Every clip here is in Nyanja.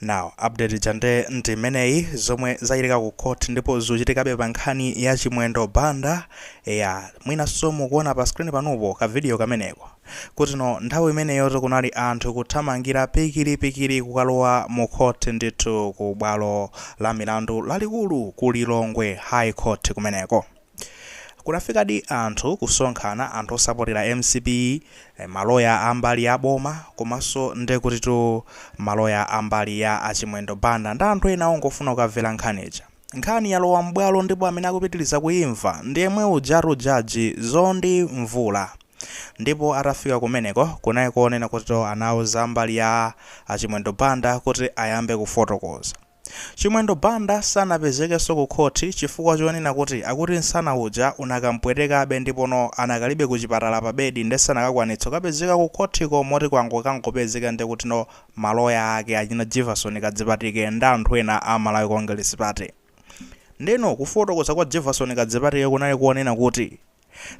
now update ija nde ndi imeneyi zomwe zachitika ku court ndipo zikuchitikabe pa nkhani ya chimwendo banda mwinanso mukuona pa screen panupo ka video kameneko kutino nthawi imeneyoto kunali anthu kuthamangira pikiripikiri kukalowa mu court ndithu ku bwalo la milandu lalikulu ku lilongwe high court kumeneko Kunafikadi anthu kusonkhana, anthu osapotera mcp, maloya a mbali ya boma komanso nde kutitu maloya a mbali ya a Chimwendo Banda ndi anthu ena ongofuna kukamvera nkhani ija. Nkhani yalowa m'bwalo ndipo amene akupitiliza kuimva ndi yemwe ujatu judge Zondi Mvula ndipo atafika kumeneko kunali konena kutito anauza ambali ya a Chimwendo Banda kuti ayambe kufotokoza. Chimwendo Banda sanapezekenso ku khothi chifukwa chonena kuti akuti nsana uja unakampwetekabe ndipo no anakalibe ku chipatala pa bedi nde sanakakwanitse kukapezeka ku khothiko moti kwango kwangopezeka nde kuti no ma loya ake achina Jivason Kadzipatike nda anthu ena a Malawi Congress Party nde no kufotokoza kwa Jivason Kadzipatike kunali konena kuti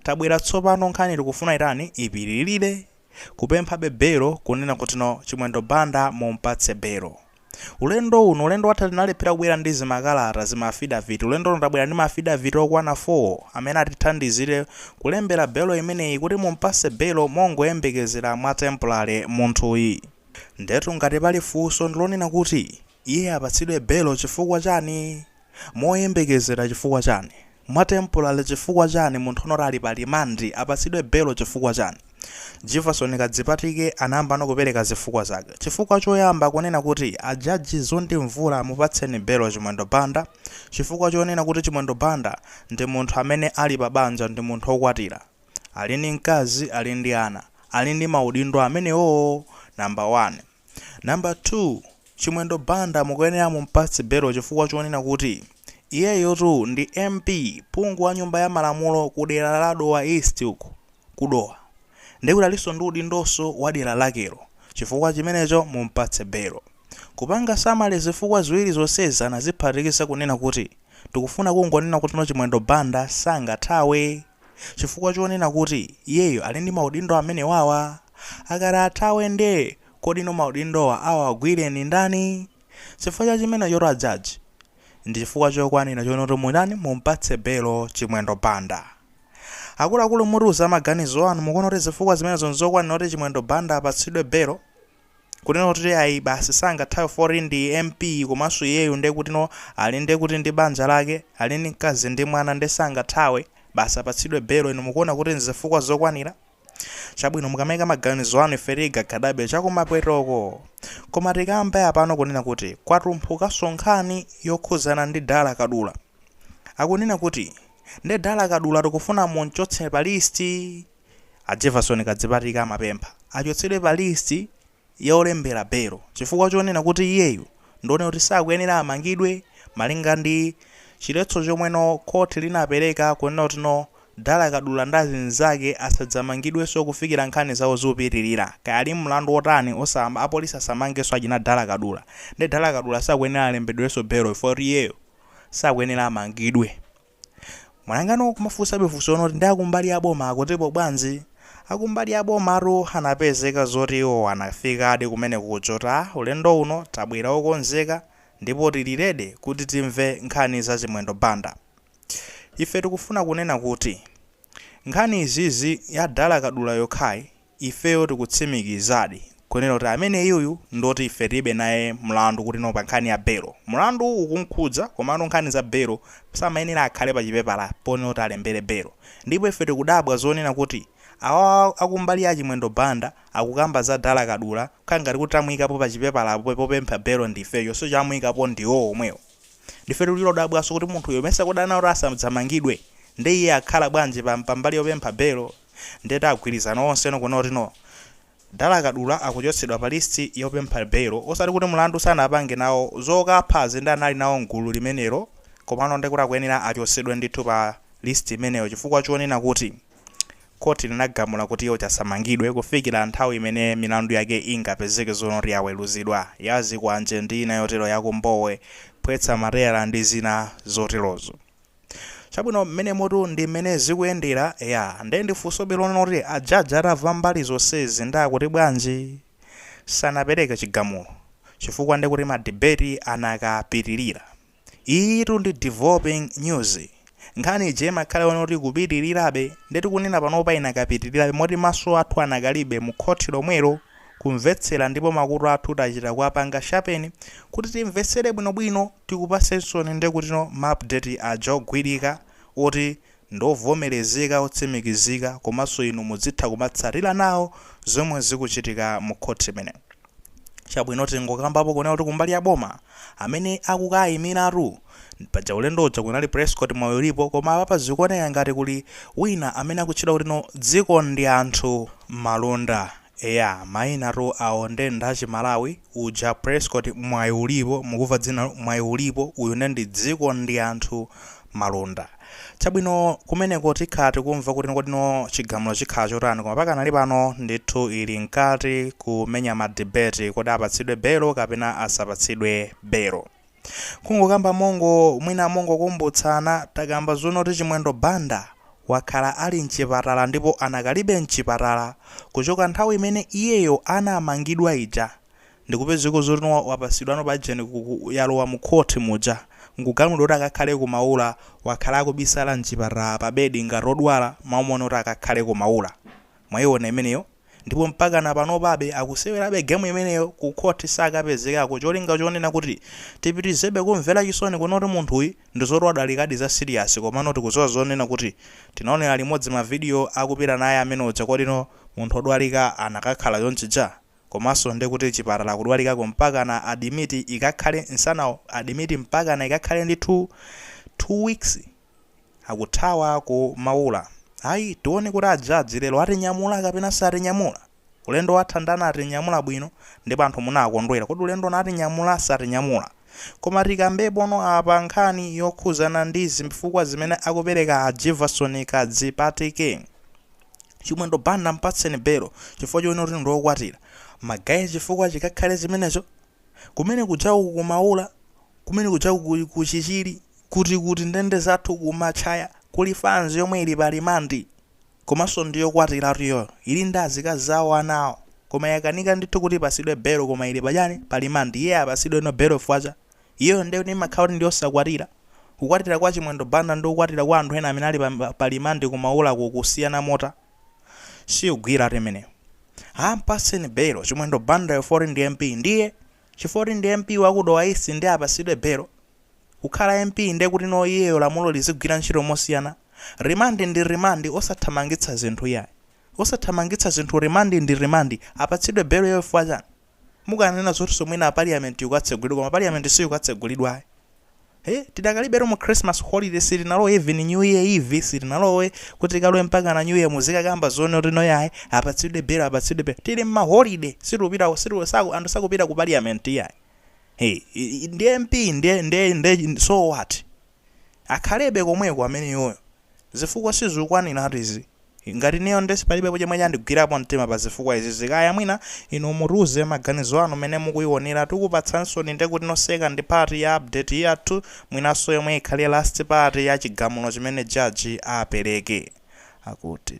Tabwera tsopano nkhaniyi tikufuna itani ipitilire kupemphabe belo kunena kutino chimwendo Banda mumpatse belo ulendo uno ulendo watha tinalephera kubwera ndi zimakalata zima afidavit ulendo uno tabwera ndi ma afidavit okwana 4 amene atithandizire kulembera belo imeneyi kuti mumpatse belo mongoyembekezera mwa temporary munthuyi ndetu ngati pali funso ndilonena kuti iye apatsidwe belo chifukwa chani? Moyembekezera chifukwa chani? Mwa temporary chifukwa chani munthu onoti ali pa remand apatsidwe belo chifukwa chani? Jivason Kadzipatike anayambano kupereka zifukwa zake. Chifukwa choyamba kunena kuti a judge Zondi Mvula mupatseni belo Chimwendo Banda chifukwa chonena kuti Chimwendo Banda ndi munthu amene ali pa banja ndi munthu okwatira ali ndi mkazi ali ndi ana ali ndi maudindo amenewowo number one. Number 2, Chimwendo Banda mukuyenera mumpatse belo chifukwa chonena kuti iyeyotu ndi MP, phungu wa nyumba ya malamulo ku dera la Dowa East uku ku Dowa. Ndiye kuti alinso ndi udindoso wa dera lakelo. Chifukwa chimenecho mumpatse belo. Kupanga summary zifukwa ziwiri zonsezi anaziphatikiza kunena kuti tikufuna kungonena kutino Chimwendo Banda sangathawe chifukwa chonena kuti iyeyo ali ndi maudindo amenewawa. Akati athawe nde kodi no maudindowa awagwilira ndi ndani? Chifukwa cha chimenechotu a judge ndi chifukwa chokwanila chonoti mutani mumpatse belo Chimwendo Banda. Akuluakulu mutiuze maganizo anu mukuona kuti zifukwa zimenezo nzokwanila kuti Chimwendo Banda apatsidwe belo? Kunena kuti ayi basi sangathawe poti ndi MP komanso iyeyu nde kuti no ali nde kuti ndi banja lake ali ndi mkazi ndi mwana nde sangathawe basi apatsidwe belo inu mukuona kuti nzifukwa zokwanila? chabwino mukamaika maganizo anu ife tikakhudzabe chakumapwetoko koma tikambe apano kunena kuti kwatumphukanso nkhani yokhuzana ndi dala kadula akunena kuti nde dala kadula tikufuna mumchotse pa list a jefferson kadzipatike amapempha achotsedwe pa list ya olembera belo chifukwa chonena kuti iyeyo ndi woneka kuti sakuyenera amangidwe malinga ndi chiletso chomwe no khothi linapereka kunena kuti no Dala Kadula ndi azinzake asadzamangidwenso kufikira nkhani zawo zikupitilira kaya ali mlandu otani osama apolisi asamangenso achina Dala Kadula nde Dala Kadula sakuyenera alembedwenso belo chifukwa choti iyeyo sakuyenera amangidwe. Mwayang'ana nkumafunsabe funso loti nde akumbali ya boma akutipo bwanji? Akumbali ya bomatu anapezeka zoti iwowa anafikadi kumeneko kudzati ulendo uno tabwera okonzeka ndipo tili ready kuti timve nkhani za Chimwendo Banda. Ife tikufuna kunena kuti nkhani izizi ya Dala Kadula yokhayi Ifeyo tikutsimikizadi kunena kuti ameneuyu ndi oti ife tilibe naye mlandu kuti no pa nkhani ya belo. Mlanduwu ukum'khudza komano nkhani za belo samayenera akhale pachipepala ponena kuti alembere belo. Ndipo ife tikudabwa zonena kuti awawa a ku mbali ya a Chimwendo Banda akukamba za Dala Kadula kukhala ngati kuti amuikapo pachipepala po popempha belo ndi ifeyo chonsecho amuikapo ndi iwowo omwewo. Ndife tili odabwanso kuti munthuyo mesa kodi anati asadzamangidwe? Nde iye akhala bwanji pa pa mbali yopempha belo? Nde atagwirizana onsewo kunena kuti no. Dala Kadula akuchotsedwa pa list yopempha bail osati kuti mlandu sanapange nawo, zokaphazi nde anali nawo mgulu limenelo komano ndekuti akuyenera achotsedwe ndithu pa list imeneyo chifukwa chonena kuti court linagamula kuti iye uja asamangidwe kufikira nthawi imene milandu yake ingapezeke zonena kuti yaweluzidwa, yazikwanje ndi ina yotero yakumbowe, phwetsa matayala ndi zina zoterozo. Chabwino, mmenemotu ndi mmene zikuyendera. Eya, nde mufunsabe lonena kuti a judge atamva mbali zonsezi nde akuti bwanji? Sanapereke chigamulo chifukwa nde kuti ma debate anakapitirira. Iyitu ndi developing news. Nkhani ija imakhala yonena kuti ikupitirirabe nde tikunena panopa inakapitirirabe moti maso athu anakalibe mu khoti lomwelo kumvetsera ndipo makutu athu tachita kuwapanga sharpen kuti timvetsere bwinobwino. Tikupatseninso ndi kuti no ma update aja ogwirika oti ndi ovomerezeka otsimikizika komanso inu mudzitha kumatsatira nawo zomwe zikuchitika mu court imeneyi chabwino tingokambapo kunena kuti kumbali ya boma amene akukaimiratu paja ulendo uja kunali prescott mwayiulipo koma apapa zikuoneka ngati kuli wina amene akutchedwa kuti no dzikondianthu malunda Eya mainatu awo nde nda chiMalawi, uja Prescott Mwayiulipo, mukumva dzinalo Mwayiulipo, uyu nde ndi dziko ndi anthu Malunda. Chabwino kumeneko tikhala tikumva kuti kodino chigamulo chikhala chotani koma pakanali pano ndithu ili mkati kumenya ma debate kodi apatsidwe belo kapena asapatsidwe belo. Kungokamba mongo, mwina mongokumbutsana takamba zonoti Chimwendo Banda wakhala ali mchipatala ndipo anakalibe mchipatala kuchoka nthawi imene iyeyo anamangidwa ija ndikupezeka zoti wapasidwano paja nkhani yalowa mu court muja nkugamulidwa kuti akakhale ku Maula wakhala akubisala mchipatala pa bed ngati odwala maumone kuti akakhale ku Maula Mwaiona imeneyo ndipo mpakana panopabe akusewerabe game imeneyo ku court sakapezekako cholinga chonena kuti tipitirizebe kumvera chisoni kunena kuti munthuyi ndizoti wadwalikadi za serious komano tikuziwa zonena kuti tinaonera limodzi ma video akupita naye amene uja kodino munthu odwalika anakakhala chonchija? komaso ndi kuti chipatala kudwalikako mpakana admit ikakhale nsanawo admit mpakana ikakhale ndi two two weeks? Akuthawa ku Maula. Ayi, tione kuti a judge lero atinyamula kapena satinyamula. Ulendo wathawu ndi anatinyamula bwino ndipo anthu munakondwera. Kodi ulendo uno atinyamula satinyamula? Koma tikambepono apa nkhani yokhuzana ndi zifukwa zimene akupereka a Jivason Kadzipatike. Chimwendo Banda mpatseni belo chifukwa chonena kuti ndi okwatira. Magaye chifukwa chikakhale chimenecho? Kumene kujaku ku Maula, kumene kujaku ku, ku Chichiri, kuti kuti ndende zathu ku Matchaya kuli fans yomwe ili pa limandi. Komanso ndi yokwatiratu iyoyo. Ili ndi azikazi awo ana awo. Koma yakanika ndithu kuti ipatsidwe belo koma ili pa chani? Pa limandi. Iye apatsidweno belo chifukwa cha? Iyoyo nde kuti imakhala kuti ndi yosakwatira. Kukwatira kwa Chimwendo Banda ndi kukwatira kwa anthu ena amene ali pa, pa limandi ku Maulako kusiyana motani? siyikugwiratu imeneyo ha mpatseni belo Chimwendo Bandayo chifoti ndi MP ndiye chifoti ndi MP wa ku Dowa East nde apasidwe belo kukhala MP nde kutino iyeyo lamulo lizigwira ntchito mosiyana remand ndi remand osathamangitsa zinthu iyayi osathamangitsa zinthu remand ndi remand apatsidwe beloyo chifukwa chani Mukananena zotinso mwina parliament ikatsegulidwe koma parliament siyikutsegulidwa ayi ee tidakalibetu mu Christmas holiday sitinalowe even new year eve sitinalowe kuti tikalowe mpakana new year muzikakamba zonotino yayi apatsidwe bail apatsidwe bail tili mma holiday sitikupita sitiku saku anthu sakupita ku parliament iyayi ee ndi MP nde nde nde so what? Akhalebe komweko ameneyoyo zifukwa sizukwanilatu izi ngati ineyo nde palibe chomwe chandigwirapo mtima pa zifukwa izizi kaya mwina inu mutiuze maganizo anu mene mukuionera tikupatsansoni nde kutino second part ya update yathu mwinaso yomwe ikhale last part ya chigamulo chimene judge apeleke akuti